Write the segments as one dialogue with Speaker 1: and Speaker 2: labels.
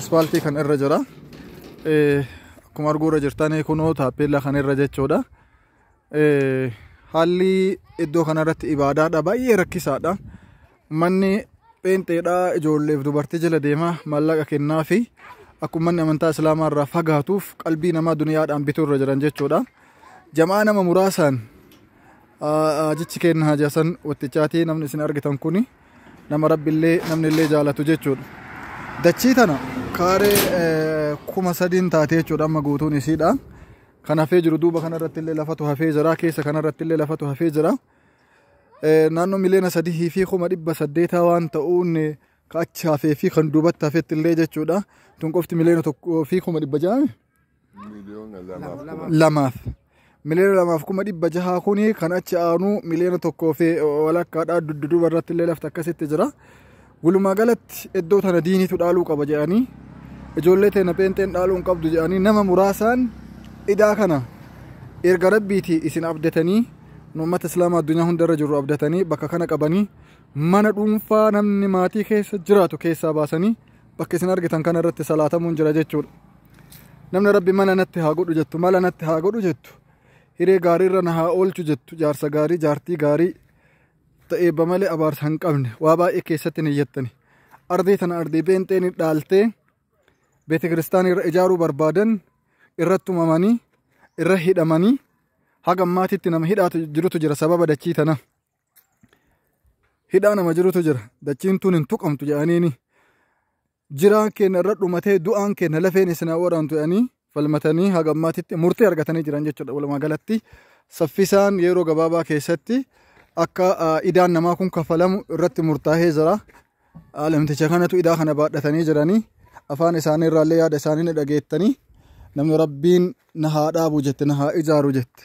Speaker 1: Ispaaltii kan irra jira. Akkuma arguu irra jirtan kunoo taappeellaa kan irra jechuudha. Haalli iddoo kanarratti ibaadaadha baay'ee rakkisaadha. Manni pheenxeedhaa ijoolleef dubartii jala deemaa maallaqa kennaa fi akkuma manni amantaa islaamaa irraa fagaatuuf qalbii namaa duniyaadhaan bituu irra jiran jechuudha. Jamaa nama muraasaan jechi kenna haajasan wattichaatii namni isin argitan kuni. nama rabbillee namnillee jaalatu jechuudha. Dachii tana kaaree eh, kuma sadiin taate jechuudha amma guutuun isiidha. Kan hafee jiru duuba kanarratti illee lafatu hafee jira keessa kanarratti illee lafatu hafee jira. Eh, Naannoo miliyoona sadihii fi kuma dhibba saddeetaa waan ta'uun eh, ka achi hafee fi kan duubatti hafetti illee jechuudha. Tun qofti miliyoona tokkoo fi kuma dhibba ja'a. Miliyoona lamaaf kuma lamaaf miliyoona lamaaf kuma dhibba jahaa kuni kan achi aanu miliyoona tokkoo fi walakkaadhaa dudduuba irratti illee lafti akkasitti jira. Walumaa galatti iddoo tana diiniitu dhaaluu qaba jedhanii ijoollee teena pheenxeen dhaaluu hin qabdu jedhanii nama muraasaan idaa kana erga rabbiiti isin abdatanii nu uummata islaamaa addunyaa hundarra jiru abdatanii bakka kana qabanii mana dhuunfaa namni maatii keessa jiraatu keessaa baasanii bakka isin argitan kana irratti salaatamuun jira jechuudha namni rabbi mala natti haa godhu jettu mala natti haa godhu jettu hiree gaarii irra na haa oolchu jettu jaarsa gaarii jaartii gaarii ta'eebba malee abaarsa hin qabne waa baay'ee keessatti ni jettani ardii tana ardii beenxeen dhaaltee beeti kiristaanii irra ijaaruu barbaadan irratti tumamanii irra hidhamanii haga ammaatitti nama hidhaatu jirutu jira sababa dachii tana. hidhaa nama jirutu jira dachiin tun hin tuqamtu jedhaniini jiraan keenya irra dhumatee du'aan keenya lafeen isin haa waraantu jedhanii falmatanii haga ammaatitti murtee argatanii jiran jechuudha walumaa galatti saffisaan yeroo gabaabaa keessatti akka ah, idaan namaa kun kaffalamu irratti murtaa'ee jira. Ah, Namticha kanatu idaa kana baadhatanii jiranii afaan isaanii irraallee yaada isaanii ni dhageettanii namni rabbiin na haa dhaabu jette na haa ijaaru jette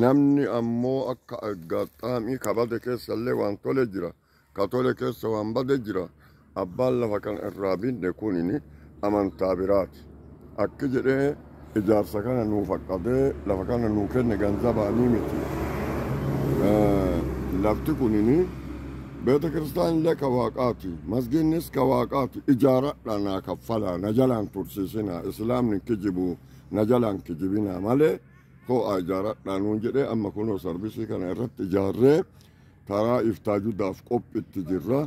Speaker 2: Namni ammo akka aggaxxaamii ka bade keessallee waan tole jira, ka tole keessa waan bade jira, abbaan lafa kana irraa binne kunini amantaa biraati. Akki jedhee ijaarsa kana nuu faqqadee lafa kana nuu kenne ganzabaanii miti. Lafti kunini beeta kiristaanillee ka waaqaati, masgiinnis ka waaqaati, ijaaradhaa naa kaffalaa, na jalaan tursiisinaa, islaamni hin kijibuu, na jalaan kijibinaa malee Koo'aa ijaaradhaa nuun jedhee amma kunoo sarvisii kana irratti ijaarree karaa iftaa judaaf qophitti jirra.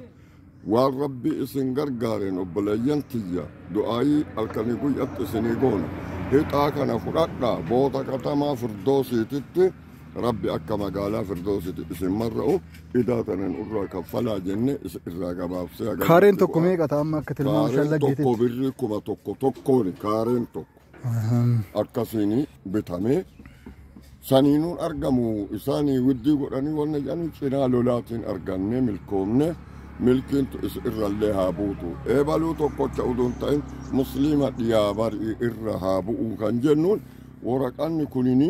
Speaker 2: Waan rabbi isin gargaareen obboleeyyan tiyya du'aayii halkanii guyyatti isinii goona. Hixaa kana fudhadhaa booda katamaa firdoosiititti rabbi akka magaalaa firdoosiiti isin marra'u idaa tanan irraa kaffalaa jenne isin irraa gabaabsee Kaareen tokko meeqa ta'a amma
Speaker 1: akka tilmaama Kaareen shallaggeetitti? tokko birrii kuma
Speaker 2: tokko tokkooni kaareen tokko. akkasiin bitamee saniinuun argamu isaanii widdii godhanii wanna jedhanii cinaa lolaatiin arganne milkoomne milkiintu is irrallee haa buutu eebaluu tokkocha uduun ta'in musliima dhiyaa barii irra haa bu'uu kan jennuun waraqanni kunini